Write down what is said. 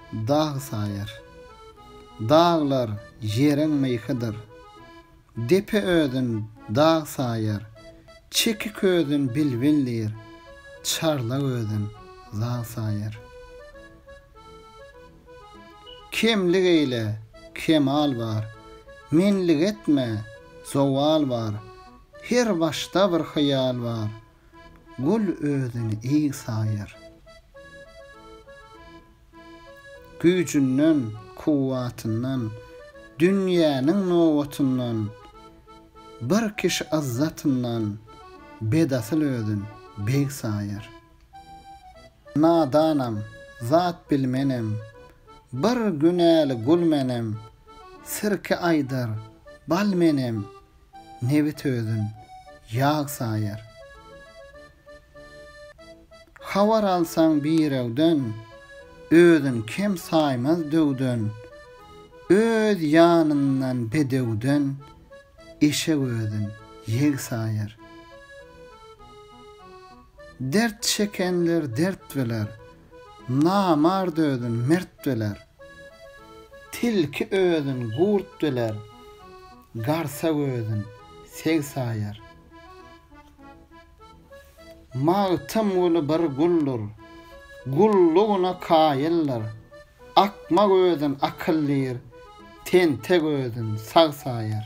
Dag saýar. Daglar ýeriň myhydyr. Depe özün dag saýar. Çeki közün bilbil diýr. Çarlag özün zag saýar. Kemlik eýle, kemal bar. Menlik etme, zowal bar. Her başda bir hyýal bar. Gül özüni eý saýar. Güýjünden, kuwwatyndan, dünýäniň nobatyndan, bir kişi yzzatyndan bedasyl özün beg saýar. Nadanam, zat bilmenem, bir günäli gul menem, sirke aýdar, bal menem, Nebit özün ýag saýar. Habar alsaň birewden, Özün kem saýmaz döwden. Öz ýanyndan bedewden, Eşek özün ýeg saýar. Dert çekenler dert biler, Namart özün mert biler. Tilki özün gurt biler, Garsa gözün seg saýar. Magtymguly bir guldur, gullugyna kaýyldyr, Akma gözün akyl diýr, tente gözün sag saýar.